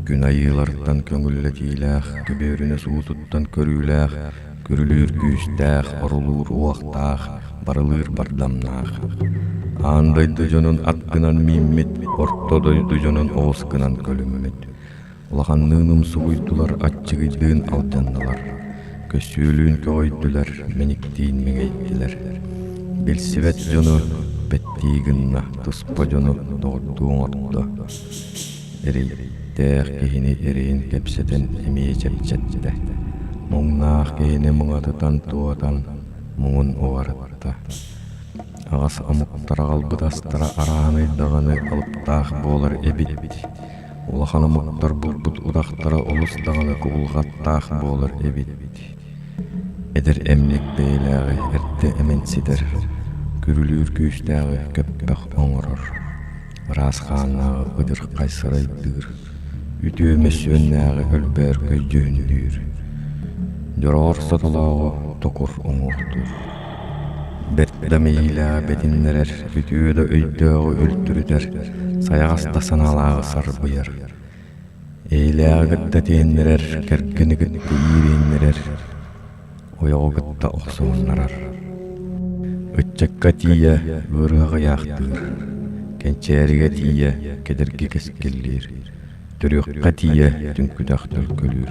Күн айыыларыттан көҥүллэтиилээх, түбүөрүнүс уутуттан көрүүлээх, күрүлүүр күүстээх, орулуур уохтаах, барылыыр бардамнаах. Аан дойду дьонун ат гынан мииммит, орто дойду дьонун оҕус гынан көлүммүт. Улаханныын умсугуйдулар, аччыгыйдыын алдьаннылар, көсүөлүүн көҕөйдүлэр, мэниктиин мэҥэйдилэр. Билсибэт дьону пэттии гынна, туспа дьону доҕордуу оҥордо. Эрийдээх киһини эрэйин кэпсэтэн эмиэ чэпчэттэ. Муҥнаах киһини муҥатытан туотан, муҥун уҕарытта. Аҕас омуктара аҕалбыт астара арааһынай даҕаны алыптаах буолар эбит улахан омуктар буолбут утахтара олус даҕаны куһулҕаттаах буолар эбит эдэр эмник бэйэлээҕи эрдэ эмэн ситэр күрүлүүр күүстээҕи көппөх оҥорор ыраас хааннааҕы ыдырхай сырайдыыр үтүө мөссүөннээҕи өлбөөр көйдьүһүннүүр дьороҕор сотолооҕу токур уҥуохтуур Бэрт да мэйиилээх бэтиннэрэр, үтүө да өйдөөҕү өлтүрүтэр, сайаҕас да санаалааҕы сарбыйар. Эйэлээҕи кытта тиэннэрэр, кэргэни кытта иириннэрэр, ойоҕу кытта охсуһуннарар. Ыччакка тиийэ ыарыһах ыйаахтыыр, кэнчээригэ тиийэ кедэрги кэскиллиир, төрүөххэ тиийэ түҥкүтэх төлкөлүүр.